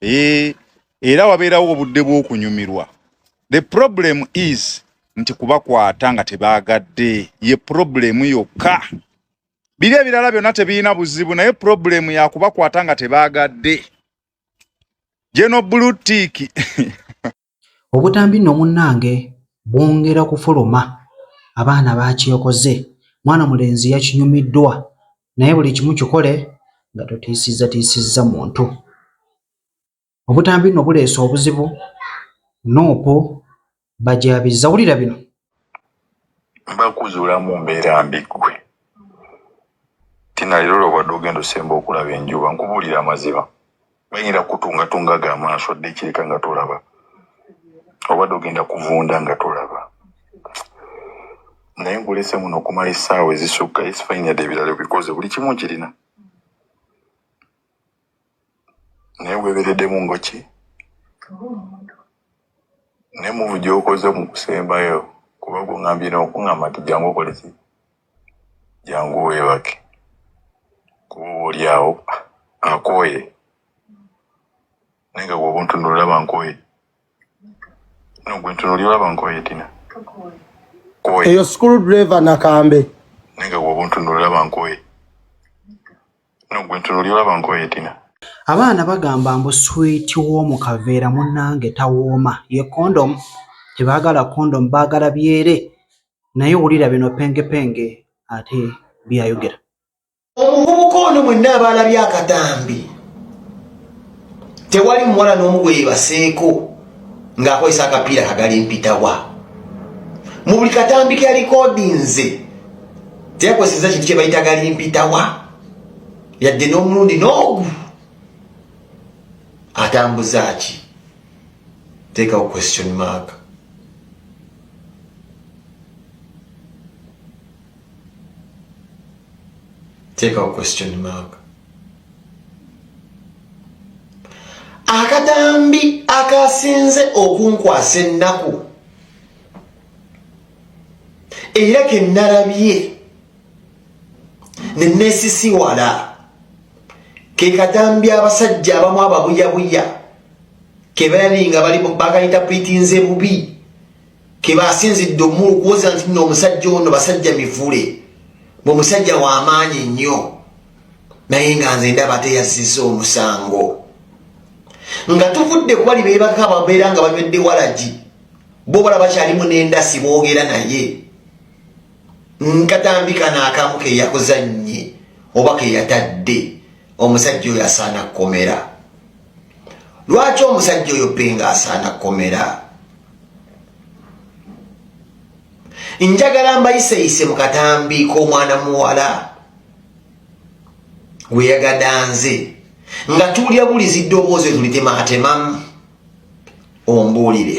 eh, era wabeerawo obudde bw'okunyumirwa the problem is nti kubakwata nga tebaagadde ye problemu yokka biri ebirala byonna tebirina buzibu naye problemu yakubakwata nga tebaagadde jeno blue tick Obutambi nno munnange bwongera kufuluma, abaana baakyekoze, mwana mulenzi yakinyumiddwa naye buli kimu kikole nga totiisizzatiisizza muntu. Obutambi nno buleese obuzibu, Nup bagyabizza. Wulira bino! mbakuzuula mu mbeera mbi ggwe tina leero lwobadde ogenda osemba okulaba enjuba nkubuulira amazima bayinza kutungatunga ga maaso dde ekireka nga tolaba obadde ogenda kuvunda nga tolaba naye nkulese muno okumala essaawa ezisukka esifainade ebirala bikoze buli kimu kirina naye weberedemu ngoki ne muvu gyokoze mu kusembayo kuba gungambye nokungamba nti jangu okoleki jangu webake kuba oba oli awo akooye naye nga gwe obuntunula olaba nkooye no gwe ntunuli olaba nkooye tina eyo school driver nakambe naye nga gwe obuntunula olaba nkooye abaana bagamba mbu swiiti woomu kaveera munnange tawooma ye kondomu tebaagala kondomu baagala byere naye wulira bino pengepenge ate byayogera omuvubuka ono mwenna abaalabye akatambi tewali muwala n'omu gwe yebaseeko ng'akozesa akapiira kagala empitawa mu buli katambi ke yalikodinze teyakozeseza kintu kye bayita gali mpitawa yadde n'omulundi n'ogu atambuza ki teekawo question mark take our question mark akadambi akasinze okunkwasa ennaku era ke nnalabye ne neesisiwala ke kadambi abasajja abamu ababuyabuya ke balabi nga bali bakayita pritinze bubi kebasinzidde omulu kuwoza nti no omusajja ono basajja mivule bwe musajja wamaanyi nnyo naye nga nze ndaba teyazziza omusango nga tuvudde kuwali bebaka babeera nga banywedde walagi bo bala bakyalimu nendasi boogera naye nkatambi kano akamu keyakuzannye oba keyatadde omusajja oyo asaana kukomera lwaki omusajja oyo penga asaana komera njagala mbayiseyise mu katambi k'omwana muwala gweyagadanze nga tuulya bulizi ddoboozi tulitematemamu ombuulire